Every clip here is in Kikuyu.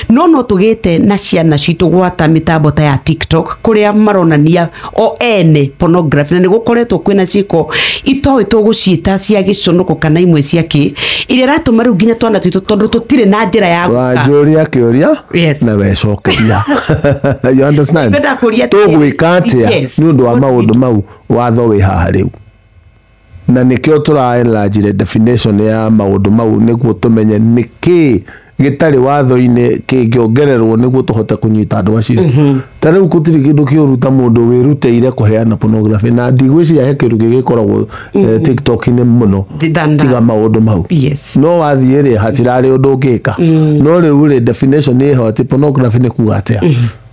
no no tũgĩte na ciana citũ gwata mĩtambo ta ya tiktok kũrĩa maronania o ene pornography na nĩ gũkoretwo kwĩna ciĩko itoĩ tũgũciĩta cia gĩconoko kana imwe cia kĩ iria iratũma rĩu nginya twana twitũ tondũ tũtirĩ na njĩra ya gũka wanjũria kĩũria Yes. na wecokeria you understand Ngwenda kũria atĩrĩ. tũgwĩka atĩa Yes. nĩ ũndũ wa maũndũ mau watho wĩ haha rĩu Na nĩkĩo tũra enlarge the definition ya maũndũ mau nĩguo tũmenye nĩkĩĩ gĩtarĩ watho-inĩ kĩngĩongererwo nĩguo tũhote kũnyita andũ acio mhm. ta rĩu gũtirĩ kĩndũ kĩũru ta mũndũ wĩrutĩire kũheana pornography na ndigwĩciria he kĩndũ gĩgĩkoragwo eh, mhm. tiktok-inĩ mũno tiga maũndũ mau no wathiĩ rĩ hatirarĩ ũndũ ũngĩka mm. no rĩu rĩ definition ĩho atĩ pornography nĩ kuga atĩa mhm.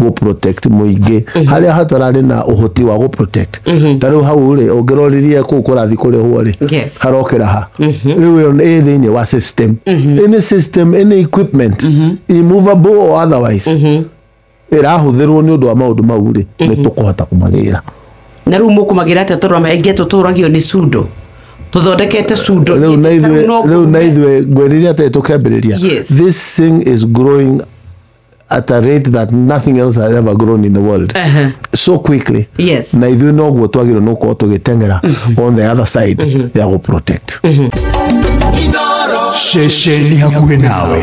gå protect mũingĩ harĩa hatararĩ na ũhoti wa gå protect ta rĩu hau rĩ ũngĩroririe kũu kũrathi kũrĩhwo rĩ Yes. karokĩra ha rĩu ĩyo nĩ- ĩ thĩinĩ wa system any system any equipment immovable or otherwise ĩrahũthĩrwo nĩ ũndũ wa maũndũ mau rĩ nĩ tũkũhota kũmagĩra na rä u må kå magä ra atä tondå maingä tå tå ragio nä cundå tå thondekete cundå rĩu na ithuĩ rĩu na ithuĩ ngwĩrĩria atĩ tũkĩambĩrĩria Yes. this thing is growing at a rate that nothing else has ever grown in the world Aha. so quickly Yes. na ithuĩ noguo twagĩrwo nĩ gũkorwo tũgĩteng'era on the other side ya gũ protect ceceni hakuhĩ nawe